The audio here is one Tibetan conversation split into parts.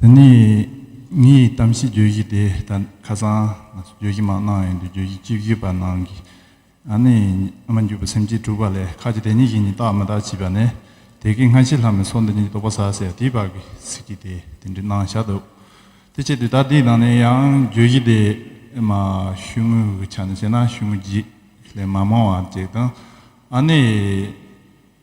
དེ་ནས་ངས་གཏམ་བཤད་བརྗོད་གཞི་དེ་ལྟར་ཁ་སང་ང་ཚོ་བརྗོད་གཞི་མང་གནང་ཡོད་འདུག་བརྗོད་གཞི་གཅིག་བརྗོད་པ་ནང་གི་ཨ་ནེ་ཨ་མ་འཇུག་པའི་སེམས་ཅན་དྲུག་པ་ལས་ཁ་ཅིག་དེ་གཉིས་ཀྱིས་ནི་རྟག་མི་རྟག་བྱིས་པ་ནས་དེ་གའི་སྔ་ཕྱི་ལྷ་མི་ཚོ་འདི་གཉིས་ཀྱི་རྟོག་པ་ཟ་ཟེར་དེའི་བར་གྱི་ཚིག་གི་དེ་དེ་འདྲའི་ནང་བཞག་འདུག་དེ་ཆེད་དུ་ད་དེའི་ནང་ནས་ཡང་བརྗོད་གཞི་དེ་མ་ཞུ་དངུལ་གི་ཆ་ནས་བཤད་ན་ཞུ་དངུལ་བརྗེས་ལས་མ་མང་བ་བརྗེས་དང་ཨ་ནེ།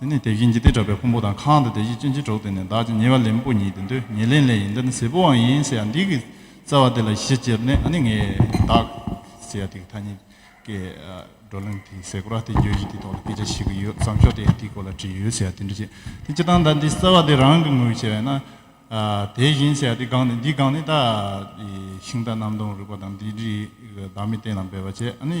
དེ་ནས་དེ་བཞིན་ཇི་སྟེ་གྲགས་པའི་ཕུང་པོ་དང་ཁང་དང་དེ་བཞིན་སྤྱིན་ཅི་གྲོགས་དེ་ནས་བདག་ཅི་ཉེ་བར་ལེན་པོ་ཉིད་དེ་འདོད་ཉེ་ལེན་ལས་ཡིན་འདི་ནི་ཟད་པོའང་ཡིན་ཟེར་ཡང་འདི་གི་རྩ་བ་དེ་ལ་གཞི་བཅིར་ནས་ནི་ངས་བདག། ཟེར་ཡང་དེ་གི་ཐ་སྙད་ཀྱི་བགྲོ་གླེང་དེའི་ཟེར་སྒོ་ར་སྟེ་བརྗོད་གཞི་དེའི་ཐོག་ལ་སྐད་ཆ་བཤད་ཀྱི་ཡོད་བསམ་ཞོར་དེ་ཡང་དེའི་སྐོར་ལ་བྲིས་ཡོད་ཟེར་ཡང་དེ་འདྲ་བྱེད་དེ་སྤྱིར་བཏང་ད་འདི་རྩ་བ་དེ་རང་གི་ངོས་བྱས་ན། དེ་བཞིན་ཟེར་ཡང་དེ་སྒང་ནི་འདི་སྒང་ནི་ད། ཤིང་རྟ་གནམ་སྟོང་རུས་པ་དང་འདི་རིགས་བདག་མི་བསྟེན་ལ་འབད་པ་བྱས་ནི།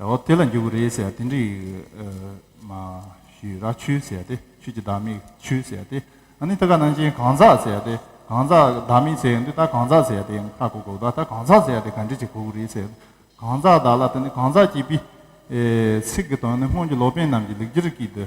འོ་དེ་ལ་འགྱུར་གྱི་རེད་ཟེར་དེ་འགྲིག་མ་ཞུས་ར་ཆུ་ཟེར་དེ་ཆུ་གྱི་བདག་མེད་ཆུ་ཟེར་དེ་ཨ་ནི་ད་ག་ནང་བཞིན་གང་ཟག་ཟེར་དེ་གང་ཟག་བདག་མེད་ཟེར་འདི་ད་གང་ཟག་ཟེར་དེ་ཡང་ཁ་གོ་གོ་ད་ད་གང་ཟག་ཟེར་དེ་ག་འགྲིག་བྱེད་གོ་གོ་རེད་ཟེར་གང་ཟག་བདག་ལ་ད་ནི་གང་ཟག་གྱིས་པི། ཚིག་གི་དོན་ནི་སྔོན་གྱི་ལོ་པན་རྣམས་ཀྱིས་ལེགས་སྒྱུར་གྱིས་འདི།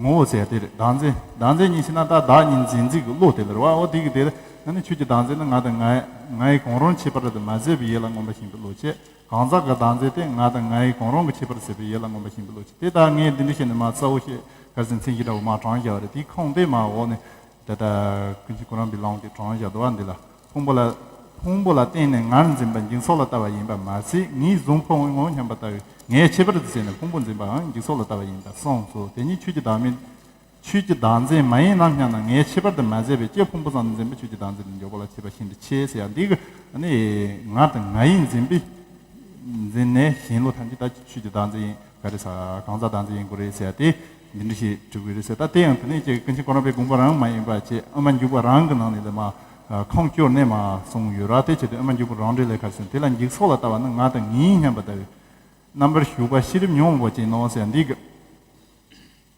ངོ་བོ་ཟད་དེར་བདག་འཛིན་བདག་འཛིན་གཉིས་ཤི་ན་ད་བདག་གཉིས་འཛིན་འཛིན་གྱི་བློ་དེ་ལེར་བའོ་དེ་གི་དེ་ན་ནི་ཁྱོད་ཀྱི་བདག་འཛིན་ནི་ང་དང་ངའི་ངའི་གང་རུང་ཁྱད་པར་དུ་མ་ཟད་པའི་ཡིད་ལ་མངོན་པ་ཞིང་པའི་བློ་ཆེ་གང་ཟག་གི་བདག་འཛིན་དེ་ང་དང་ངའི་གང་རུང་གི་ཁྱད་པར་ཟད་པའི་ཡིད་ལ་མངོན་པ་ཞིང་པའི་བློ་ཆེ་དེ་ལྟར་ངས་འདི་འདི་ཞེས་ནི་མ་རྩ་བོ་ཞེས་གར་ཟིན་མཚན་གཞི་འདྲ་བོ་མ་དྲངས་བྱ་བ་རེད་དེའི་ཁུངས་དེ་མའོ་ནི་ད་ལྟ་ཀུན་གཞི་ཀུན་རང་བི་ལོང་གི་གྲོང་བཞག་དུ་བ་འདི་ལ་ཕུང་པོ་ལ། ཕུང་པོ་ལ་བརྟེན་ནས་ངར་འཛིན་པ་འགྱིང་སོགས་ལ་ལྟ་བ་ཡིན་པར་མ་ཟད་ངེས་བཟུང་ཕོ་ངོ་སྙམ་པ་ལྟ་བུའི་ངའི་ཁྱད་པར་དུ་བྱས་ནས་ཕུང་པོ་འཛིན་པའང་འགྱིང་སོགས་ལ་ལྟ་བ་ཡིན་པར་གསུངས་སོ་དེ་ཉིད་ཆོས་ཀྱི་བདག་མེད། ཆོས་ཀྱི་བདག་འཛིན་མ་ཡིན་ནམ་སྙམ་ན་ངའི་ཁྱད་པར་དུ་མ་ཟད་པའི་སྐྱེ་ཕུང་པོ་ཙམ་དུ་འཛིན་པ་ཆོས་ཀྱི་བདག་འཛིན་པའི་འཇོག་པ་ལ་བྱེད་པ་བཞིན་དུ་ཆེ་ཟེར་ཡང་འདི་ཀུན་ནི་ང་དང་ང་ཡིས་འཛིན་པའི་འཛིན་ནས་གཞན་ལུགས་ཐམས་ཅད་ད་ཆོས་ཀྱི་བདག་འཛིན་ཡིན་ག་རེ་ས་གང་ཟག་དང་ཚེ་ཡིན་གོ་རེ་ཟེར་ཏེ་འདི་འདྲི་ཞེས་དྲི་བའི་རེ་ཟེར་ད་ལྟའི་ཡང་དེ་ནས་ཀྱེ་ཀུན་བྱེད་ཀོ་རང་པའི་དགོངས་པ་རང་མ་ཡིན་པ་ཅེས་ཨ་མ་འཇུག་པ་རང་གི་ནང་ནས་ལས་མ་ཁང་བསྐྱོར་གནས་མ་སོང་ཡོད་ར་དེ་བྱས་ཏེ་ཨ་མ་འཇུག་པ་རང་འདྲེ་ལས་ཁར་སོན་དེ་ལ་འཇིག་ཚོགས་ལ་ལྟ་བ་ནི་ང་དང་ངའི་སྙམ་པ་ལྟ་བུའི་རྣམ་པར་ཞུགས་པ་ཤེས་རིམ་ཉོན་མོངས་པ་ཅན་ནོ་ཟེར་འདི་ག་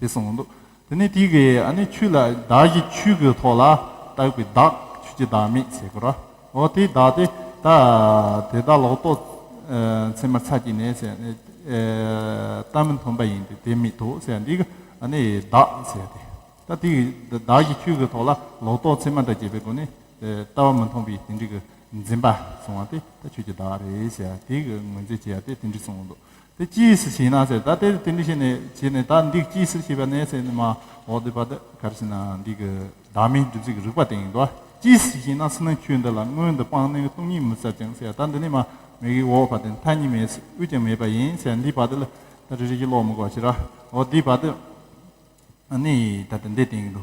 དེ་གསུངས་འདུག་དེ་ནས་དེ་གའི་ཨ་ནི་ཆུ་ལ་བདག་གཞི་ཆུ་གི་ཐོག་ལ་བཏགས་པའི་བདག་ཆུ་གྱི་བདག་མེད་ཟེར་གོ་ར་ཨོ་དེའི་བདག་དེ་ད་དེ་དག་ལོག་རྟོག་མཚན་མར་ཚ་གྱི་ནས་ཟེར་ནས་ལྟ་མི་མཐོང་པ་ཡིན་ཏེ་དེ་མེད་དོ་ཟེར་འདི་གི་ཨ་ནི་བདག་ཟེར་ཏེ་ད་དེ་གི་བདག་གཞི་ཆུ་གི་ཐོག་ལ་ལོག་རྟོག་མཚན་མ་འདྲ་སྐྱེས་པའི་སྒོ་ནས་ལྟ་བ་མི་མཐོང་པའི་དེ་འདྲི་གི་འཛིན་པ་བཟུང་བ་དེ་ད་ཆུ་གྱི་བདག་རེད་ཟེར་དེ་གི་ངོས་འཛིན་བྱེད་ཡ་དེ་དེ་འདྲི་གསུངས་འདུག་དེ་ཅིའི་ཕྱིར་ཞེ་ན་ཟེར་ད་དེ་དེ་འདྲ་ཞེས་ནས་བྱས་ནས་ད་འདི་ཅིའི་ཕྱིར་ཞེས་པ་ནས་ཟེར་ནས་མ་འོག་འདི་བ་ད་ག་རེ་ཟེར་ན་འདི་གི་བདག་མེད་སྒྲུབ་ཚུལ་གྱི་རིགས་པ་དེ་ཡིན་ཏོ། ཅིའི་ཕྱིར་ཞེ་ན་སུ་ན་ཁྱོད་འདི་ལ་སྔོན་དུ་སྤངས་ནས་སྟོང་ཉིད་མི་ཟ་ཅིང་ཟེར་ད་འདི་ནི་མ་མེད་ཀྱི་འོག་བ་དེ་མཐའ་གཉིས་མེད་དབུས་ཀྱང་མེད་པ་ཡིན་ཟེར་འདི་བ་ད་ལ་ད་རེ་རེ་ཞིག་ཀློག་མི་དགོས་ཕྱིར་རོ་འོ་འདི་བ་ད་ནི་ད་དེ་འདི་དེ་ཡིན་ཏོ།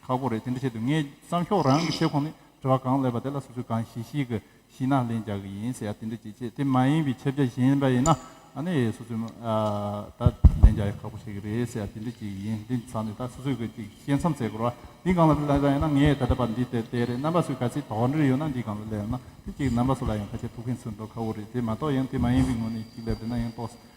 ཁག་པོ་རེད་དེ་འདྲ་བྱས་དུས་ངས་བསམ་ཤོག་རང་གི་ཆེད་ཁོ་ནས་དྲི་བ་གང་ལེགས་པ་དེ་ལ་སོ་སོས་གང་ཤེས་ཤེས་གི་ཤེས་ན་ལན་རྒྱག་གི་ཡིན་ཟེར་ཡ་དེ་འདྲ་བྱེད་ཆེད་དེ་མ་ཡིན་པའི་ཁྱབ་བྱ་གཞན་པ་ཡིན་ན་ཨ་ནི་སོ་སོས་ད་ལན་རྒྱག་ཡ་ཁག་པོ་བྱེད་གི་རེད་ཟེར་ཡ་དེ་འདྲ་བྱེད་གི་ཡིན་དེ་ཚང་ནས་ད་སོ་སོས་གི་ཅིག་བཤད་མཚམས་བཅད་དགོས་ར་འདི་གང་ལ་ལན་རྒྱག་ཡ་ན་ངས་ད་ལྟ་བར་འདི་དེ་དེ་རེད་རྣམ་པ་སུས་ག་ཚད་དོགས་འདྲིར་ཡོད་ན་འདི་གང་ལ་ལན་ཡོད་ན་དེ་ཅིག་རྣམ་པ་སུ་ལ་ཡང་ཁ་ཆད་ཐུག་མཁན་ཚུར་འགྲོ་ཁག་པོ་རེད་དེ་མ་གཏོགས་ཡང་དེ་མ་ཡིན་པའི་ངོ་ནས་ཅིག་ལབ་འདྲི་ན་ཡང་དོགས་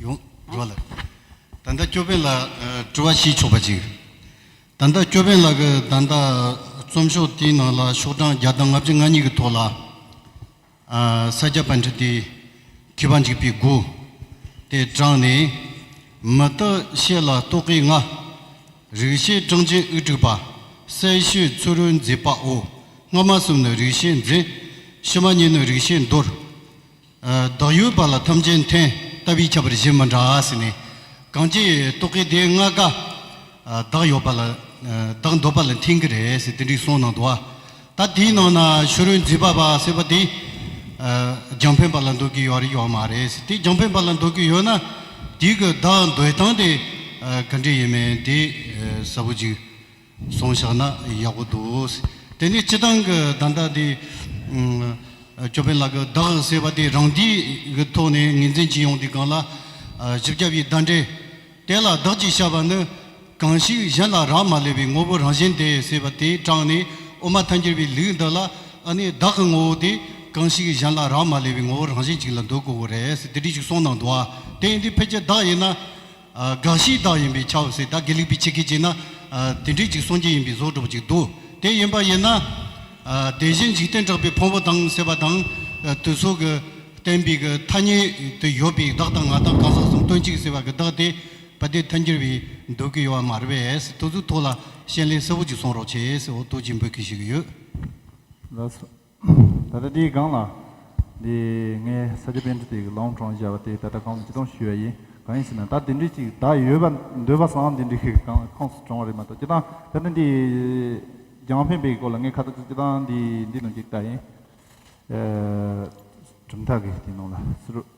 ཡོངས་རྫོགས་ལ། བདག་མདའ་ཅོ་པན་ལ་དྲི་བ་ཞུས་ཆོག་པ་ཅིག། བདག་མདའ་ཅོ་པན་ལགས་ཀྱི་བདག་མདའ་རྩོམ་ཤོག་དེའི་ནང་ལ་ཤོག་གྲངས་བརྒྱ་དང་ལྔ་བཅུ་ང་གཉིས་ཀྱི་ཐོག་ལ། ས་སྐྱ་པ་འཁྲིད་དེ་ཁྱི་བ་འཇིགས་པའི་མགུ། དེ་དྲངས་ནས། མི་རྟག་བཤད་ལ་རྟོག་གེའི་ང། རིག་བྱེད་སྤྲང་ཆེན་དབུ་དཀྲུགས་པ། གསལ་ཤོས་ཚུ་རོལ་མཛེས་པའོ། སྔ་མ་གསུམ་ནི་རིག་བྱེད་མཛེས། ཕྱི་མ་གཉིས་ནི་རིག་བྱེད་འདོར། བདག་ཡུལ་བར་ལ་ཐམས་ཅད་མཐོན། ལྟ་བུའི་ཁྱད་པར་གཞན་མི་འདྲ་ཟེར་ནས། གང་ཅིའི་རྟོག་གེ་དེའི་སྔགས་དགའ། བདག་ཡོད་པ་ལ། བདག་འདོད་པ་ལ་མཐུན་གྱི་རེད་ཟེར་དེ་འདྲའི་གསུང་གནང་འདུག་ད་དེའི་ནང་ན་ཤོ་རོའི་མཛེས་པ་བ་ཟེར་བ་དེ། རྒྱང་འཕེན་པ་ལ་འདོད་ཀྱི་ཡོད་རེད་ཡོད་མ་རེད་ཟེར་དེ་རྒྱང་འཕེན་པ་ལ་འདོད་ཀྱི་ཡོད་ན། དེའི་གི་བདག་འདོད་སྟངས་དེ་ག་འདྲའི་ཡིན་མིན་དེ་གསལ་བོ་ཅིག། སོང་ཤག་ན་ཡག་པོ་འདུག། དེ་ནས་སྤྱི་བཏང་གི་བརྡ་འདྲ་དེ། ཅོ་པན་ལགས་བདག་ཟེར་བ་དེ་རང་འདིས་གི་ཐོག་ནས་ངེས་འཛིན་གྱིས་ཡོང་དེ་གང་ལ། བཞི་བརྒྱ་པའི་བརྡ་འདྲེ། དེ་ལ་བདག་ཅེས་བྱ་བ་ནི། གང་ཞིག་གཞན་ལ་རག་མ་ལས་པའི་ངོ་བོ་རང་བཞིན་ཏེ་ཟེར་བ་དེ་དྲངས་ནས་དབུ་མ་མཐའ་འཁྱེར་བའི་ལུགས་འདི་ལ་ཨ་ནི་བདག་གི་ངོ་བོ་དེ་གང་ཞིག་གཞན་ལ་རག་མ་ལས་པའི་ངོ་བོ་རང་བཞིན་གཅིག་ལ་འདོད་དགོས་བོ་རེད་ཟེར་དེ་འདྲི་ཞིག་གསུངས་གནང་འདུག་བ་དེ་འདི་ཕལ་ཆེར་བདག་ཡིན་ན། དགག་གཞིའི་བདག་ཡིན་པས་ཆའོ་སི་ད་གེ་ལེགས་པའི་ཆེ་གེ་བྱས་ན། དེ་འབྲས་གཅིག་སངས་རྒྱས་ཡིན་པས་བཟོ་གྲུབ་ཅིག་འདུག་དེ་ཡིན་པ་ཡིན་ན། དེ་བཞིན་འཇིག་རྟེན་གྲགས་པའི་ཕུང་བོ་དང་སྲེད་པ་དང། དུས་གཟུགས་ཀྱི་བསྟན་པའི་གི་ཐ་སྙད་དུ་ཡོད་པའི་བདག་དང་ང་དང་གང་ཟག་གསུམ་དོན་གཅིག་སེལ་བ་གི་བདག་དེ་བ་དེ་མཐུན་འགྱུར་བའི་འདོད་གི་ཡོད་བ་མ་རེད་པས་ཐུགས་གཟུགས་ཐོག་ལ་ཤན་ལས་གསལ་བོ་ཅིག་གསུང་རོགས་བྱས་ཨོ་ཏོ་ཅི་འབོད་གི་ཞིག་ཡོད། ད་ལྟ་འདིའི་སྒང་ལ། འདི་ངའི་ས་སྐྱ་དཔོན་རི་དེ་གི་ལོང་གྲོང་བཞག་པ་དེ་ད་ལྟ་གང་དུ་སྤྱི་སྡོམ་ཞུས་བ་ཡིན། གང་ཡིན་ཟེར་ན་ད་དེ་འདྲི་གཅིག་བདག་ཡོད་པ་འདོད་པ་བཟང་དེ་འདྲི་གི་གང་ལ་ཁོངས་སུ་བྱུང་བ་རེད་མ་གཏོགས་སྐྱེ་ཐང་ད་ལྟ་འདི། རྒྱང་འཕེན་པའི་སྐོར་ལ་ངས་ཁ་ཚ་ཚ་སྐྱེ་ཐང་འདི་འདི་ནང་གི་བཀའ་ཡིན། གྲུབ་མཐའ་གི་དེ་ནང་ལ་སུ་རུ།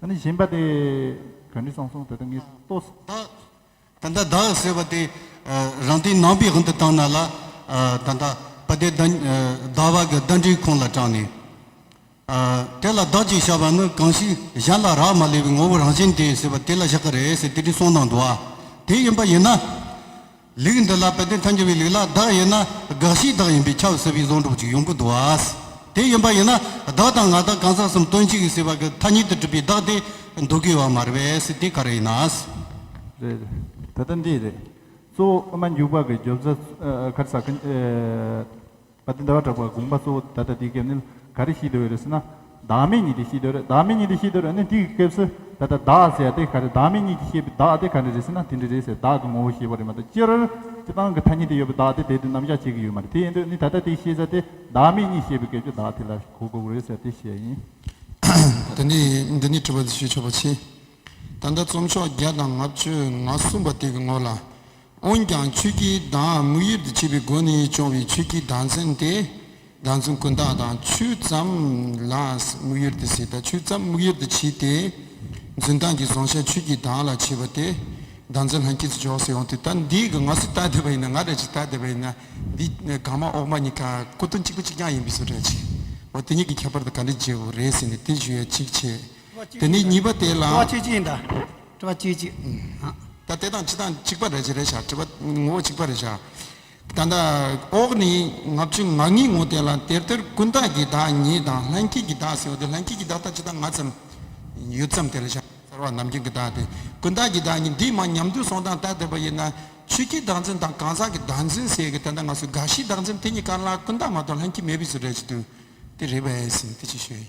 ད་ནི་བཞིན་པ་སྟེ། གང་འདི་སང་སོང་དེ་ལྟ་ངས་ལྟོས། ད་ད་ད་ཟེར་བ་དེ། རང་སྟེང་ནང་པའི་དབང་དུ་བཏང་ན་ལ། ད་ད་པ་དེ་ད་ད་བ་གི་ཟླ་འདྲིའི་ཁོང་ལ་དྲངས་ནས། དེ་ལ་བདག་ཅེས་བྱ་བ་ནི་གང་ཞིག་གཞན་ལ་རག་མ་ལས་པའི་ངོ་བོ་རང་བཞིན་ཏེ་ཟེར་བ་དེ་ལ་བཞག་གི་རེད་ཟེར་དེ་འདྲའི་གསུང་དང་འདུ་བ་དེ་ཡིན་པ་ཡིན་ན། ལུགས་འདི་ལ་དཔལ་ལྡན་ཐམས་ཅད་པའི་ལུགས་ལ་བདག་ཡོད་ན་དགག་གཞིའི་བདག་ཡིན་པས་ཁྱབ་ཟེར་བའི་གཟུངས་སྒྲུབ་ཅིག་ཡོང་གི་འདུག་བ། དེ་ཡིན་པ་ཡིན་ན་བདག་དང་ང་དང་གང་ཟག་གསུམ་དོན་གཅིག་ཡིན་ཟེར་བ་གི་ཐ་སྙད་དུ་གྲུབ་པའི་བདག་དེ་འདུག་གི་བ་མ་རེད་པས་དེ་ག་རེ་ཡིན་ན། རེད། ད་ལྟ་འདི་རེད། གཙོ་བོ་ཨ་མ་འགྱུར་བག་གི་རྒྱོབ་ཟ་ཁར་ཟ་ཁ། བ་དེ་འདའ་བར་གྲགས་པ་དགོངས་པ་གཙོ་བོ་ད་ལྟ་འདིའི་སྐབས་ནི་ག་རེ་ཤེས་འདོད་ཡོད་རེད་ཟེར་ན། བདག་མེད་གཉིས་དེ་ཤེས་འདོད་རེད་བདག་མེད་གཉིས་དེ་ཤེས་འདོད་རེད་ནི་འདིའི་སྐབས་སུ་ད་ལྟ་བདག་ཟེར་ཡ་དེ་ག་རེ་བདག་མེད་གཉིས་ཀྱིས་ཤེས་པའི་བདག་དེ་ག་རེ་རེད་ཟེར་ན་དེ་འདྲ་རེད་ཟེར་བདག་གི་ངོ་བོ་ཤེས་པ་རེད་མ་གཏོགས་སྤྱིར་སྤྱི་སྟངས་ཀྱི་ཐ་སྙད་དེ་ཡོད་པའི་བདག་དེ་དེ་དུས་ནམ་བཞག་བྱེད་ཀྱི་ཡོད་མ་རེད་དེ་ཡིན་དུས་ནི་ད་ལྟ་དེ་ཤེས་ས་དེ་བདག་མེད་གཉིས་ཤེས་པའི་སྐབས་ཀྱི་བདག་དེ་ལ་གོ་དགོས་རེད་ཟེར་དེ་ཤེས་ཡིན། འདི་ནི་འདི་ནི་དྲི་བ་འདི་ཞུས་ཆོག་པ་མཆིས། ད་ལྟ་རྩོམ་ཤོག་བརྒྱ་དང་ལྔ་བཅུ་ང་གསུམ་པ་དེ་གི་ངོ་ལ་འོན་ཀྱང་ཆོས་ཀྱི་གདངས་དམིགས་ཡུལ་དུ་བྱེད་པའི་སྒོ་ནས་སྦྱོང་བའི་ཆོས་ཀྱི་གདངས་ཚན་དེ། གདངས་ཚོན་ཀུན་བརྟགས་དང་ཆོས་ཙམ་ལ་དམིགས་ཡུལ་དུ་བྱེད་དང་ཆོས་ཙམ་དམིགས་ཡུལ་དུ་བྱེད་དེ། འཛིན་སྟངས་ཀྱི་བཟང་ཤ་ཆོས་ཀྱི་གདངས་ལ་བྱེད་པ་དེ། གདངས་ཚོན་ལྷན་སྐྱེས་སུ་འཇོག་སའི་དབང་དུ་ད་འདིའི་ག་ང་སུ་བལྟ་བསྡད་པ་ཡིན་ན་ང་རེད་ཅེས་བལྟ་བསྡད་པ་ཡིན་ན་འདི་གང་མ་འོག་མ་གཉིས་ཀ་སྐུ་དོན་གཅིག་པ་གཅིག་རྐྱང་ཡིན་པས་སུ་རེད་ཅེས་བ་དེ་གཉིས་ཀྱི་ཁྱད་པར་དུ་ག་འདྲས་བརྗོད་པ་རེད་ཟེར་ནས་དེ་བརྗོད་ཡ་གཅིག་བྱས། དེ་ནས་གཉིས་པ་དེ་ལ། ད་དེ་དང་འཆི་དང་འཇིག་པ་རེ་བྱ་རེ་བྱ་བྲི་བ་ངོ་བོ་འཇིག་པ་རེ་བྱ། ད་ལྟ་འོག་ནས་ལྔ་བཅུ་ང་གཉིས་ངོ་དེ་ལ་དེར་དེར་ཀུན་བརྟགས་ཀྱི་བདག་ཉིད་དང་ལྷན་སྐྱེས་ཀྱི་བདག་ཟེར་བ་དེ་ལྷན་སྐྱེས་ཀྱི་བདག་དང་འཆི་བདག་ང་ཙམ་ཡོད་ཙམ་དེ་རེ་བྱ། གསར་བ་ནམ་རྒྱུན་གྱི་བདག་དེ་ཀུན་བརྟགས་ཀྱི་བདག་ཉིད་འདིས་མ་ཉམས་དུས་སོང་དང་ལྟ་འདོད་པ་ཡིན་ན་ཆོས་ཀྱི་བདག་འཛིན་དང་གང་ཟག་གི་བདག་འཛིན་ཟེར་གི་ད་ལྟ་ང་སུ་དགའ་བཞིའི་བདག་འཛིན་དེ་གཉིས་ཀ་ལ་ཀུན་བརྟགས་མ་གཏོགས་ལྷན་སྐྱེས་མེད་པས་སུ་རེ་བྱེད་དུས་དེ་རེ་བས་ཟིན་ཏེ་ཅི་ཞུ་ཡི།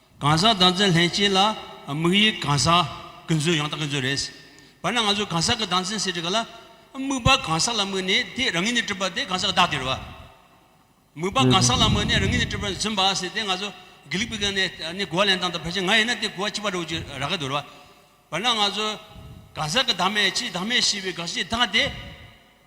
གང་ཟག་བདག་འཛིན་ལྷན་སྐྱེས་ལ་དམིགས་ཡུལ་གང་ཟག་ཀུན་རྫོབ་ཡང་དག་ཀུན་རྫོབ་རེད། བར་ན་ང་ཚོས་གང་ཟག་གི་བདག་འཛིན་ཟེར་གྱི་གི་ལ། དམིགས་པ་གང་ཟག་ལ་དམིགས་ནས་དེས་རང་ཉིད་ནི་སྤྲུལ་པ་དེ་གང་ཟག་གི་བདག་དེར་བ། དམིགས་པ་གང་ཟག་ལ་དམིགས་ནས་རང་ཉིད་ནི་སྤྲུལ་པ་འཛིན་པ་ཟེར་དེ་ང་ཚོ་དགེ་ལུགས་པའི་གནས་ནས་གོ་བ་ལེན་སྟངས་དང་ཕལ་ཆེར་ང་ཡིན་ན་དེ་གོ་བ་གཅིག་པ་རེད་འོ་ཅི་རག་གི་འདུག་རེད་བ། བར་ན་ང་ཚོས་གང་ཟག་གི་བདག་མེད་ཕྱིའི་བདག་མེད་ཞེས་པའི་དགག་བྱའི་བདག་དེ།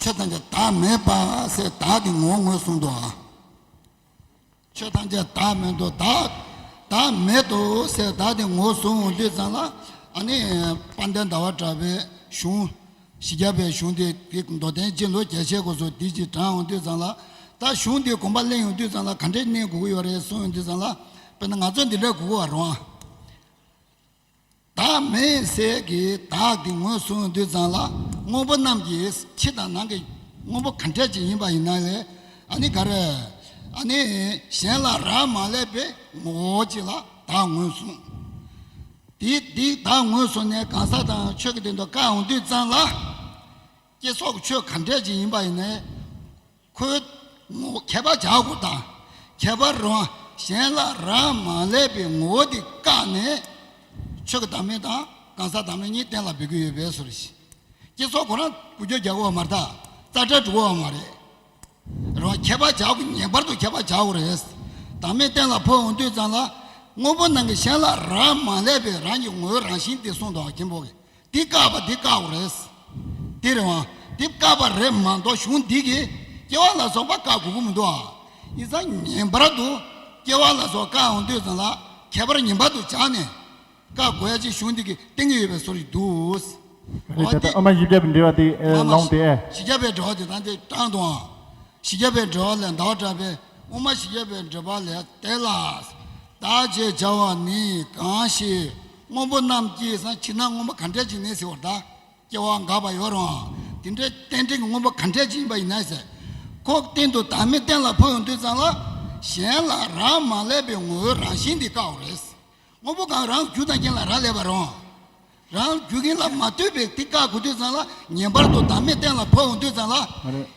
ཆོས་ཐམས་ཅད་བདག་མེད་པ་སའི་བདག་གི་ངོ་ངོས་བཟུང་དུ་ཨ། ཆོས་ཐམས་ཅད་བདག་མེད་དུ་བདག་བདག་མེད་དུ་སའི་བདག་གི་ངོ་བཟུང་ལུས་ཚང་ལ་ཨ་ནི་དཔལ་ལྡན་ཟླ་བ་གྲགས་པའི་གཞུང། ཞི་རྒྱ་བའི་གཞུང་འདི་འདི་མདོ་བསྟན་སྤྱི་ལོ་བརྒྱད་ཆའི་གོ་སོ་འདི་གཅིག་དྲངས་ཡོང་དུས་ཚང་ལ་ད་གཞུང་འདི་དགོངས་པ་གླེང་ཡོང་དུས་ཚང་ལ་ག་འདྲའི་གནས་འགུག་ཡོད་རེད་གསུང་ཡོང་དུས་ཚང་ལ་དཔེར་ན་ང་ཚོ་འདི་འདྲ་འགུག་བར་རུང་ཨ། བདག་མེད་ཟས་ཀྱི་བདག་གི་ངོས་སུ་འདུས་ཙང་ལ་དངོས་པོ་རྣམས་ཀྱི་ཕྱི་དང་ནང་གི་དངོས་པོ་ག་འདྲ་ཅིག་ཡིན་པ་ཡིན་ན་ནི་ག་རེ། གཞན་ལ་རག་མ་ལས་པའི་ངོ་བོ་གཅིག་ལ་བདག་ངོས་བཟུང། དེ་འདི་བདག་ངོས་བཟུང་ནས་གང་ཟག་དང་ཆོས་ཀྱི་དོན་དུ་བཀའ་འོག་འདུས་ཙང་ལ། སྐྱེ་སོགས་ཆོས་ག་འདྲ་ཅིག་ཡིན་པ་ཡིན་ན་ནི། ཁོའི་ངོ་བོ་ཁྱད་པར་འཇགས་སྒོ་དང་ཁྱད་པར་རུང་བ་གཞན་ལ་རག་མ་ལས་པའི་ངོ་བོ་དེ་བཀག་ནས་ཆོས་ཀྱི་བདག་མེད་དང་གང་ཟག་བདག་མེད་གཉིས་གཏན་ལ་འབེབས་ཀྱི་ཡོད་པས་སོ། བསྐྱེད་རྫོགས་ཁོ་རང་ཀུན་སྦྱོར་རྒྱག་གོ་བ་མ་རྟག་རྩ་བྲལ་འགྲུབ་བོ་བ་མ་རེད། རང་ཁྱད་པར་འཇགས་སྒོ་ངེས་པར་དུ་ཁྱད་པར་འཇགས་སྒོ་རེད། བདག་མེད་གཏན་ལ་འཕོ་འོང་དུས་ཙམ་ལ་དངོས་པོ་ནང་གི་གཞན་ལ་རག་མ་ལས་པའི་རང་གི་ངོ་བོའི་རང་བཞིན་དེ་གསུངས་དང་གྱེན་འཕོ་གི་འདི་བཀག་པ་འདི་བཀག་འོ་རེད། འདི་རེད་བ། འདི་བཀག་པ་རེད་མ་འདོག་གཞུང་འདི་གིས་སྐྱེ་བ་ལ་སོགས་པ་བཀག་དགོས་ཀྱི་མི་འདུག་ཨ། ཡིན་ཙང་ངེས་པར་དུ་སྐྱེ་བ་ལ་སོགས་བཀག་འོང་དུས་ཙམ་ལ་ཁྱད་པར་ངེས་པར་དུ་བྱ་ནས་བཀག་དགོས་ཡ་ཅེས་གཞུང་འདི་གིས་གཏན་འཁེལ་ཡོད་པའི་སོར་ཞིག་འདུག། རེད་ད་ལྟ་ཨ་མ་བཞི་བརྒྱ་པའི་འབྲེལ་བ་དེ་ལོངས་ཏེ། བཞི་བརྒྱ་པའི་འབྲེལ་བ་དེ་དང་དེ་བགྲང་དུ་འང། བཞི་བརྒྱ་པའི་འབྲེལ་བ་ལས་འདའ་བར་བཀྲལ་པས་དབུ་མ་བཞི་བརྒྱ་པའི་འབྲེལ་པ་ལས་འདས་ལ། བདག་ཅེས་བྱ་བ་ནི་གང་ཞེས། སྔོན་པོ་རྣམས་ཀྱིས་སང་ཕྱི་ན་སྔོན་པོ་ག་འདྲས་ཅིག་ནས་ཟེར་བར་གདའ། སྐྱེ་བ་འགག་པ་ཡོད་རུང་དེ་འདྲའི་རྟེན་འབྲེལ་གྱི་སྔོན་པོ་ག་འདྲས་ཅིག་ཡིན་པ་ཡིན་ན་ཟེར། ཁོག་སྟེང་དུ་བདག་མེད་གཏན་ལ་འཕོ་ཡོང་དུས་ཙམ་ལ། གཞན་ལ་རག་མ་ལས་པའི་ངོ་བོའི་རང་བཞིན་འདི་བཀག་འོ་རེད། སྔོན་པོ་གང་རང་རྒྱུ་དང་རྐྱེན་ལ་རག་ལས་པ་རུང། རང་རྒྱུ་རྐྱེན་ལ་མ་ལྟོས་པའི་དེ་བཀག་དགོས་དུས་ཙམ་ལ་ངེས་པར་དུ་བདག་མེད་གཏན་ལ་འཕོ་ཡོང་དུས་ཙམ་ལ།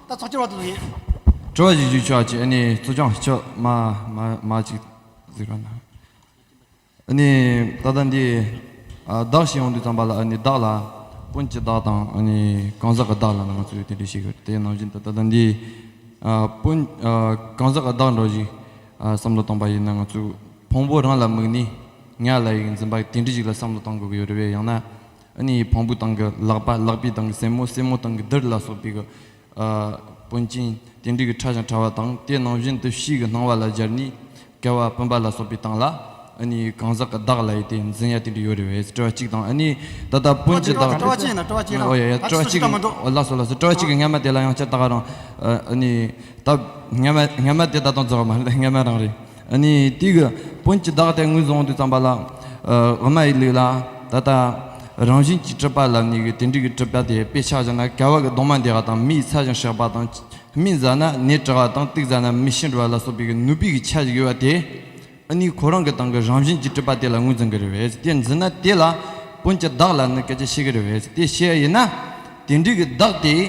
ད་ཚོགས་ཀྱི་བར་དུ་ལོ་ཡིན། དྲི་བ་ཞིག་ཞུ་ཆོག་ཅེས་ཨ་ནི་གཙོ་སྐྱོང་མཆོག་མ་མ་ཅིག་ཟིག་ར་ན། ཨ་ནི་ད་ལྟ་འདི་བདག་ཞིག་ཡོང་དུས་ཙམ་པ་ལ་ཨ་ནི་བདག་ལ་དཔོན་གྱི་བདག་དང་ཨ་ནི་གང་ཟག་གི་བདག་ལ་ནང་ང་ཚོས་དེ་འདྲས་ཤིག་ཡོད་དེ་ནང་བཞིན་དུ་ད་ལྟ་འདི་དཔོན་གང་ཟག་གི་བདག་འགྲོ་ཞིག་བསམ་བློ་བཏང་པ་ཡིན་ན་ང་ཚོས་བོང་བུ་རང་ལ་དམིགས་ནས་ངའི་ལ་ཡིག་འཛིན་པ་དེ་འདྲས་ཞིག་ལ་བསམ་བློ་བཏང་དགོས་ཀྱི་ཡོད་རེད་བས་ཡང་ན། ཨ་ནི་ཡི་བོང་བུ་དང་གི་ལག་པ་ལག་པའི་དང་གི་སེན་མོ་སེན་མོ་དང་གི་དིར་ལ་སོགས་པའི་གི། པོན་ཅན། དེ་འབྲས་ཀྱི་ཕྲ་ཞིང་ཕྲ་བ་དང་དེ་ནང་བཞིན་དུ་ཕྱིའི་གི་སྣང་བ་ལ་སྦྱར་ནས། བསྐལ་བ་པུན་པ་ལ་སོགས་པའི་དང་ལ། ཨ་ནི་ཡི་གང་ཟག་གི་བདག་ལ་ཡི་དེ་འཛིན་ཡ་དེ་འདྲས་ཡོད་རེ་བས་སྤྲོ་བ་གཅིག་དང་ཨ་ནི་ད་ལྟ་པོན་ཅི་བདག། སྤྲོ་བ་གཅིག་ཡིན་ན་སྤྲོ་བ་གཅིག་རང། ཨ་ཅི་སོ་སོ་ཀ་མ་འགྲོ། ལ་སོགས་ལ་སོགས་སྤྲོ་བ་གཅིག་གི་སྔ་མ་དེ་ལ་ཡང་སྤྱིར་བདག་རང། ཨ་ནི་ད་སྔ་མ་སྔ་མ་དེ་ད་དང་རྫོགས་པ་མ་ལ་སྔ་མ་རང་རེད། དུས་ཀྱི་དཔོན་གྱི་བདག་དེ་ངོས་བཟུང་དུ་བརྩམས་པ་ལ། ཝཱ་མ་ཡི་ལུགས་ལ་ད་ལྟ་རང་བཞིན་གྱིས་སྤྲུལ་པ་ལ་ནི་དེ་འབྲུག་གི་སྤྲུལ་པ་དེ་དཔེ་ཆ་བཞིན་ན་ག་བ་གི་གདོང་མ་འདེགས་པ་དང་མི་ཡི་ཚ་ཞིང་གཤེགས་པ་དང། སྨིན་ཟ་ན་ནད་དྲག་པ་དང་སྟིག་ཟ་ན་མི་ཤི་འགྲོ་བ་ལ་སོགས་པའི་ནུས་པའི་ཆ་ཞིག་ཡོད་པ་དེ་ནི་ཁོ་རང་གི་ཏང་གི་རང་བཞིན་གྱི་སྤྲུལ་པ་དེ་ལ་ངོས་འཛིན་གྱི་རེད་བས་དེ་འཛིན་ན་དེ་ལ་དཔོན་གྱི་བདག་ལ་ནི་སྐད་ཆ་བཤད་གི་རེད་བས་དེ་བཤད་ཡིན་ན། དེ་འབྲུག་གི་བདག་དེས་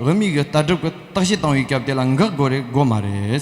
ཝཱ་མི་གི་ལྟ་གྲུབ་ཀྱི་བརྟག་བཤད་བཏང་བའི་སྐབས་དེ་ལ་འགག་དགོས་རེད་དགོས་མ་རེད།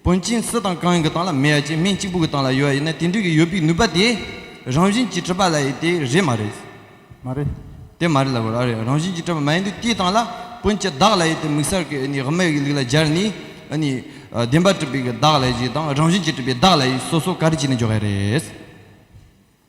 དཔོན་ཆེན་བསེ་དང་གངས་ཀྱི་སྟངས་ལ་མེ་ཡ་གཅིག་སྨན་གཅིག་པུ་གི་སྟངས་ལ་ཡོད་ཡིན་ན་དེ་འདྲི་གི་ཡོད་པིག་ནུས་པ་དེ་རང་བཞིན་གྱི་གྲུབ་པ་ལ་ཡིན་དེ་རེད་མ་རེད། མ་རེད། དེ་མ་རེད་ལབ་རོགས་ཨ་རེད་རང་བཞིན་གྱི་གྲུབ་པ་མ་ཡིན་དུས་དེའི་སྟངས་ལ་དཔོན་ཆེ་བདག་ལ་ཡིན་དེ་མིག་སར་གི་ཨ་ནི་དབུ་མའི་གི་ལིག་ལ་སྦྱར་ནི་ཨ་ནི་བདེན་པ་གྲུབ་པའི་གི་བདག་ལ་ཡིན་ཞིག་དང་རང་བཞིན་གྱི་གྲུབ་པའི་བདག་ལ་ཡིན་སོ་སོ་ག་རེ་བྱས་ནས་འཇོག་གི་རེད།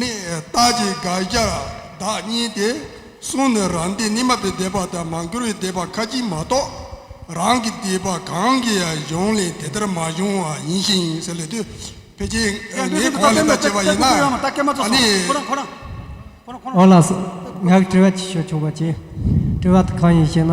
ནི་རྟགས་ཀྱི་དགག་བྱར་བདག་གཉིས་ཏེ་གསུངས་ནས་རང་སྡེ་ནི་མ་པའི་སྡེ་པ་དང་མ་འགྱུར་བའི་སྡེ་པ་ཁ་ཅིག་མ་གཏོགས་རང་གི་སྡེ་པ་གང་གི་ཡང་གཞུང་ལས་དེ་ལྟར་མ་བྱུང་བ་ཡིན་ཞིང། ཕལ་ཆེར་ངའི་གོང་ལས་ལྟ་བྱེད་པ་ཡིན་ན་ནི། ཨོ་ལ་སི། ང་གིས་དྲི་བ་ཅིག་ཞུ་ཆོག་པ་ཅི། དྲི་བ་དེ་གང་ཡིན་ཞེ་ན།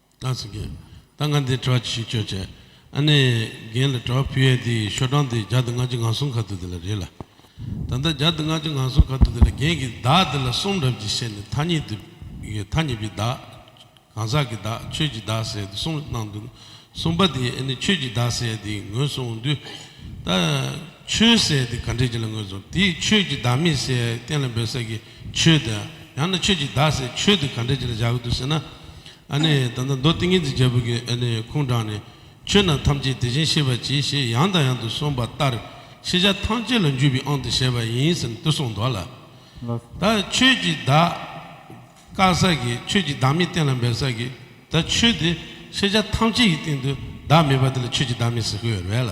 བཀའ་སྩལ་པ། ད་ང་འདིར་གྲོགས་ཀྱི་ཤུགས་བསྐྱོད་བྱས། ཨ་ནེ། རྒན་ལ་གྲོགས་ཕུལ་ཡས་དེའི་ཤོ་གྲངས་དེ་བརྒྱ་དང་ལྔ་བཅུ་ང་གསུམ་ག་ཐུག་དེ་ལ་རེད་ལ། ད་ལྟ་བརྒྱ་དང་ལྔ་བཅུ་ང་གསུམ་ག་ཐུག་དེ་ལ་རྒན་གྱིས་བདག་དེ་ལ་གསུང་རབ་ཀྱི་ཤེས་ནས་ཐ་སྙད་དུ། ཐ་སྙད་པའི་བདག། གང་ཟག་གི་བདག་ཆོས་ཀྱི་བདག་ཟེར་ཡས་དེ་གསུངས་གནང་འདུག་གསུངས་པ་དེ་ཨ་ནེ་ཆོས་ཀྱི་བདག་ཟེར་ཡས་དེའི་ངོས་གསུང་འོང་དུས། ད། ཆོས་ཟེར་ཡས་དེ་ག་འདྲས་ཀྱི་ལ་ངོས་གཟུང་དེའི་ཆོས་ཀྱི་བདག་མེད་ཟེར་ཡས་གཏན་ལ་འབེབས་ས་ཀྱི། ཆོས་དེ། ཡང་ན་ཆོས་ཀྱི་བདག་ཟེར་ཆོས་དེ་ག་འདྲའི་ཆེད་ལ་བཞག་གི་འདུག་ཟེར་ན། ཨ་ནི་ད་ལྟ་མདོ་ཏིང་ངེ་འཛིན་རྒྱལ་པོ་གྱི་ཨ་ནི་ཁུངས་དྲངས་ནས། ཆོས་རྣམས་ཐམས་ཅད་དེ་བཞིན་གཤེགས་པ་གྱིས་ཞེས་ཡང་དང་ཡང་དུ་གསུངས་པ་ལྟར་ཤེས་བྱ་ཐམས་ཅད་ལ་འཇུག་པའི་ཨང་དུ་བྱས་པ་ཡིན་ཟེར་ནས་དུ་གསུངས་འདུག་ལ། ད་ཆོས་ཀྱི་བདག། བཀག་ས་གི་ཆོས་ཀྱི་བདག་མེད་གཏན་ལ་འབེབས་ས་གི། ད་ཆོས་དེ། ཤེས་བྱ་ཐམས་ཅད་ཀྱི་སྟེང་དུ་བདག་མེད་པ་དེ་ལ་ཆོས་ཀྱི་བདག་མེད་ཟེར་དགོས་ཡོད་རེད་ལ།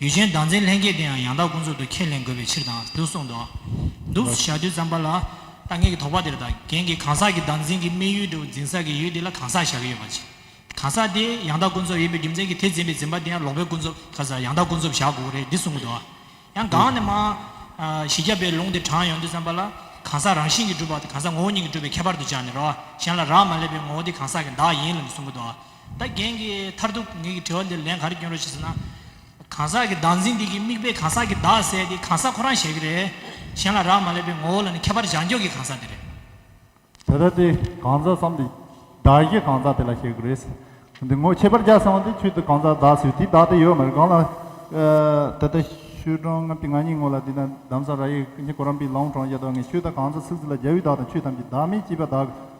ཡུལ་ཆེན་བདག་འཛིན་ལྷན་སྐྱེས་དེ་ཡང་ཡང་དག་ཀུན་རྫོབ་ཏུ་ཁས་ལེན་དགོས་པའི་ཕྱིར་དང་དུ་གསུངས་ཏོ། འདུ་བྱ་དུས་བརྩམས་པ་ལ། ལྟ་ངན་གྱི་དོགས་པ་དེར་དང་གན་གྱི་གང་ཟག་གི་བདག་འཛིན་གྱི་དམིགས་ཡུལ་དུ་འཛིན་ས་ཀྱི་ཡུལ་དེ་ལ་གང་ཟག་བཞག་གི་ཡོད་པ་ཅི། གང་ཟག་དེ་ཡང་དག་ཀུན་རྫོབ་ཡིན་པའི་རྒྱུ་མཚན་གྱིས་དེ་འཛིན་པའི་འཛིན་པ་དེ་ཡང་ལོག་པའི་ཀུན་རྫོབ་གང་ཟག་ཡང་དག་ཀུན་རྫོབ་བཞག་དགོས་རེད་འདི་གསུངས་ཏོ། ཡང་གང་ནས་མང། བཞི་བརྒྱ་པའི་ལུང་དེ་དྲངས་ཡོང་དུས་བརྩམས་པ་ལ། གང་ཟག་རང་བཞིན་གྱིས་གྲུབ་པ་དེ་གང་ཟག་ངོ་བོ་ཉིད་ཀྱིས་གྲུབ་པའི་ཁྱད་པར་དུ་སྦྱར་ནས་རོ། གཞན་ལ་རག་མ་ལས་པའི་ངོ་བོ་དེ་གང་ཟག་གི་བདག་ཡིན་ལ་ནི་གསུངས་ཀྱི་ཏོ། ད་རྒན་གྱི་མཐར་ཐུག་ངེད་ཀྱི་དྲི་བ་འདིར་ལན་ག་རེ་བསྐྱོན་རོགས་ཞེས་ཟེར་ན། གང་ཟག་གི་བདག་འཛིན་འདི་ཀྱི་དམིགས་པས་གང་ཟག་གི་བདག་ཟེར་དེ་གང་ཟག་ཁོ་རང་ཞེས་ཀྱི་རེད། གཞན་ལ་རག་མ་ལས་པའི་ངོ་བོ་ལ་ནི་ཁྱད་པར་བྱང་ཕྱོགས་ཀྱི་གང་ཟག་དེ་རེད། དེ་ལྟར་དེ་གང་ཟག་བསམ་སྟེ། བདག་གཞན་གང་ཟག་དེ་ལ་ཞེས་ཀྱི་རེད། འདི་ངོ་ཁྱད་པར་བྱ་བསམ་བ་དེ་ཆོས་དེ་གང་ཟག་བདག་ཟེར་དེའི་བདག་དེ་ཡོད་མ་རེད་གང་ལ། ད་ལྟ་ཤོད་གྲང་ངམ་སྟེ་ང་གཉིས་ངོ་ལ་དེ་དང་འདམ་ས་ར་ཡིག་ཁྱི་གོ་རམ་པི་ལོང་གྲོང་རྒྱ་དོག་ངས་ཆོས་ད་གང་ཟག་ཚིག་ཚིག་ལ་རྒྱལ་བུའི་བདག་དང་ཆོས་ཐམས་ཅད་བདག་མེད་ཅེས་པ་བདག་གི།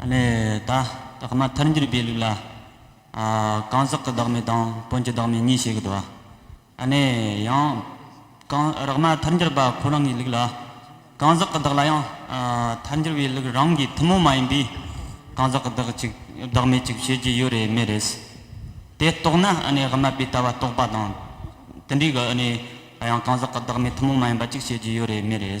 ལས་བདག་བདག་མ་མཐར་འགྱུར་སྦས་ལུགས་ལ། གང་ཟག་གི་བདག་མེད་དང་དོན་གྱི་བདག་མེད་གཉིས་བྱེད་དགོས། ཡང། གང་རག་མ་མཐར་འགྱུར་པ་ཁོ་རང་གི་ལུགས་ལ། གང་ཟག་གི་བདག་ལ་ཡང་མཐར་འགྱུར་བའི་ལུགས་རང་གི་ཐུན་མོང་མ་ཡིན་པའི་གང་ཟག་གི་བདག་གཅིག་བདག་མེད་གཅིག་བྱེད་ཀྱི་ཡོད་རེད་མེད་རེད། དེ་རྟོགས་ན་རག་མ་པའི་ལྟ་བ་རྟོགས་པ་དང་དུ་འགྲིག། ཡང་གང་ཟག་གི་བདག་མེད་ཐུན་མོང་མ་ཡིན་པ་གཅིག་བྱེད་ཀྱི་ཡོད་རེད་མེད་རེད།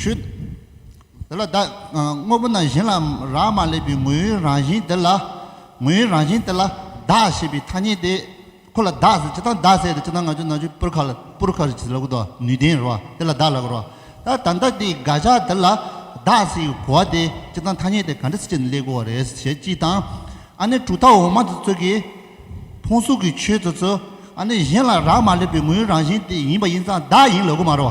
ཁྱོད། དེ་ལ་བདག། དངོས་པོ་རྣམས་གཞན་ལ་རག་མ་ལས་པའི་ངོ་བོའི་རང་བཞིན་དེ་ལ། ངོ་བོའི་རང་བཞིན་དེ་ལ། བདག་ཞེས་པའི་ཐ་སྙད་དེ། ཁོ་ལ་བདག་ཟེར་ཇི་ལྟར་བདག་ཟེར་དེ་ཇི་ལྟར་ང་ཅོ་ན་ཅོ་པུར་ཁ་ལ་པུར་ཁ་ཞེས་ལབ་གོ་དོ་ནུས་ལྡན་རོ། དེ་ལ་བདག་ལབ་གོ་རོ། ད་ད་ལྟ་དེའི་དགག་བྱ་དེ་ལ། བདག་ཟེར་བའི་གོ་བ་དེ་ཇི་ལྟར་ཐ་སྙད་དེ་ག་འདྲ་སེ་ཅེ་ན་ལེགས་གོ་བ་རེད་ཟེར་བྱས་ཅི་དང། ཨ་ནི་གྲུ་ཐག་འོག་མ་དེ་ཚོད་ཀྱིས། ཕུང་སུག་གི་ཆོས་དེ་ཚོ། ཨ་ནི་གཞན་ལ་རག་མ་ལས་པའི་ངོ་བོའི་རང་བཞིན་དེ་ཡིན་པ་ཡིན་ཙང་བདག་ཡིན་ལབ་གོ་མ་རོ།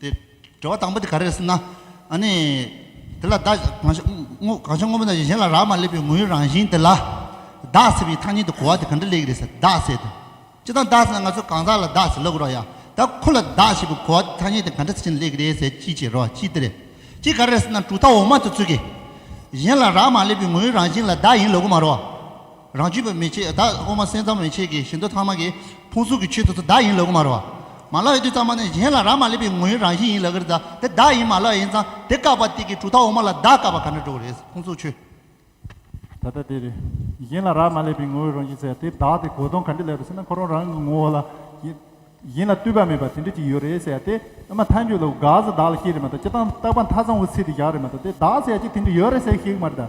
དེ་དྲི་བ་དང་པོ་དེ་ག་རེ་རེད་ཟེར་ན། ཨ་ནི། དེ་ལ་བདག་གང་ཤར་དངོས་པོ་ན་གཞན་ལ་རག་མ་ལས་པའི་ངོ་བོའི་རང་བཞིན་དེ་ལ། བདག་ཟེར་བའི་ཐ་སྙད་དུ་གོ་བ་དེ་ག་འདྲ་ལེགས་རེད་ཟེར་བདག་ཟེར་དུ། ཅི་ལྟར་བདག་ཟེར་ན་ང་ཚོས་གང་ཟག་ལ་བདག་ཟེར་ལོ་གོ་རོགས་ཡ། ད་ཁོ་ལ་བདག་ཞེས་པའི་གོ་བ་དེ་ཐ་སྙད་དེ་ག་འདྲ་ཟེར་ན་ལེགས་རེད་ཟེར་ཅི་བྱེད་རོགས་ཅི་དེ་རེད། ཅི་ག་རེ་རེད་ཟེར་ན་གྲུབ་མཐའ་འོག་མ་དེ་ཚུད་ཀྱི། གཞན་ལ་རག་མ་ལས་པའི་ངོ་བོའི་རང་བཞིན་ལ་བདག་ཡིན་ལོ་གོ་མ་རོགས། རང་རྒྱུད་པའི་མེ་ལྕེ་བདག་དབུ་མ་སེམས་ཙམ་མེ་ལྕེ་གི་ཞིང་དུ་ཐ་མ་གི་ཕུང་སུམ་གྱི་ཆོས་དུ་བདག་ཡིན་ལ་དབུ་མ་རོ། མ་ལགས་ཡོད་དུས་ཙམ་མ་ནས་གཞན་ལ་རག་མ་ལས་པའི་ངོ་ཡི་རང་བཞིན་ཡིན་ལ་གིར་བདག་དེ་བདག་ཡིན་མ་ལགས་ཡིན་ཙང་དེ་བཀག་པ་སྟེ་གི་དྲུག་དག་དབུ་མ་ལ་བདག་བཀག་པ་ག་འདྲ་འགྲོ་བ་རེད་ཕུང་སུམ་ཆོས། ད་ལྟ་དེ་རེད། གཞན་ལ་རག་མ་ལས་པའི་ངོ་བོའི་རང་བཞིན་ཟེར་དེ་བདག་དེ་གོ་དོན་ག་འདྲ་ལས་པ་ཟེར་ན་ཁོ་རང་རང་གི་ངོ་བོ་ལ། གཞན་ལ་ལྟོས་པ་མེད་པ་དེ་འདྲ་ཅིག་ཡོད་རེད་ཟེར་ཡ་དེ་ཨ་མ་མཐའ་མཇུག་ལ་དགག་ཟ་བདག་ལ་སྐྱེ་རེད་མ་གཏོགས་སྤྱི་བཏང་རྟག་པ་མཐའ་ཚང་བོ་ཚིག་དེ་བཞག་རེད་མ་གཏོགས་དེ་བདག་ཟེར་ཡ་གཅིག་དེ་འདྲ་ཡོད་རེད་ཟེར་ཤེས་གི་མ་རེད་ད།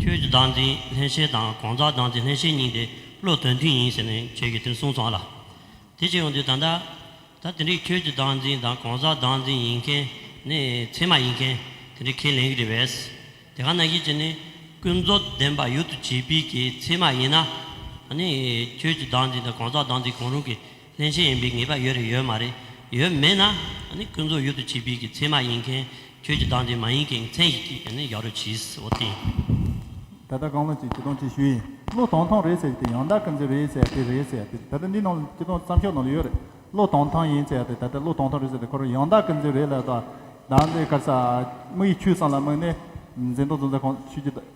ཁྱོད་ཀྱི་བདག་འཛིན་ལྷན་སྐྱེས་དང་གང་ཟག་བདག་འཛིན་ལྷན་སྐྱེས་གཉིས་དེ་བློ་དོན་མཐུན་ཡིན་ཟེར་ནས་ཁྱོད་ཀྱིས་དེ་གསུངས་སོང་ལ། དེ་ཅི་ཡོང་དུས་ད་ལྟ། ད་དེ་འདྲའི་ཁྱོད་ཀྱི་བདག་འཛིན་དང་གང་ཟག་བདག་འཛིན་ཡིན་མཁན་ནི་ཚད་མ་ཡིན་མཁན་དེ་འདྲའི་ཁས་ལེན་གྱི་རེད་བས། དེ་ག་ན་གཞི་ཅི་ནི་ཀུན་རྫོབ་བདེན་པ་ཡུལ་དུ་བྱེད་པའི་གི་ཚད་མ་ཡིན་ན། ནི་ཁྱོད་ཀྱི་བདག་འཛིན་དང་གང་ཟག་བདག་འཛིན་གང་རུང་གི་ལྷན་སྐྱེས་ཡིན་པའི་ངེས་པ་ཡོད་རེད་ཡོད་མ་རེད་ཡོད་མེད་ན་ནི་ཀུན་རྫོབ་ཡུལ་དུ་བྱེད་པའི་གི་མཚན་མ་ཡིན་མཁན་ཁྱོད་ཀྱི་བདག་འདི་མ་ཡིན་གི་མཚན་ཞིག་གིས་ནི་ཡག་རུ་གྱིས་འོ་དེ། ད་ལྟ་རྐང་ལོ་ཅིག་སྐྱི་སྟོང་ཅིག་ཞུས་ཡིན་ཀློག་དོང་ཐང་རེད་ཟེར་གི་དེ་ཡང་བདག་གི་མཛེས་རེད་ཟེར་དེ་རེད་ཟེར་དེ་ད་ལྟ་འདི་ནང་ལ་སྐྱི་སྟོང་བརྩམས་ཆོས་ནང་ལ་ཡོད་རེད་ཀློག་དོང་ཐང་ཡིན་ཟེར་དེ་ད་ལྟ་ཀློག་དོང་ཐང་རེད་ཟེར་དེ་ཁོ་རང་ཡང་བདག་གི་མཛེས་རེད་ལབ་ད་བདག་འདི་དཀར་ས་དམག་ཡིག་ཆུས་སང་ལ་དམག་ནི་འཛིན་དོང་རྫོང་ཚ་ཁོངས་ཆུས་ཀྱི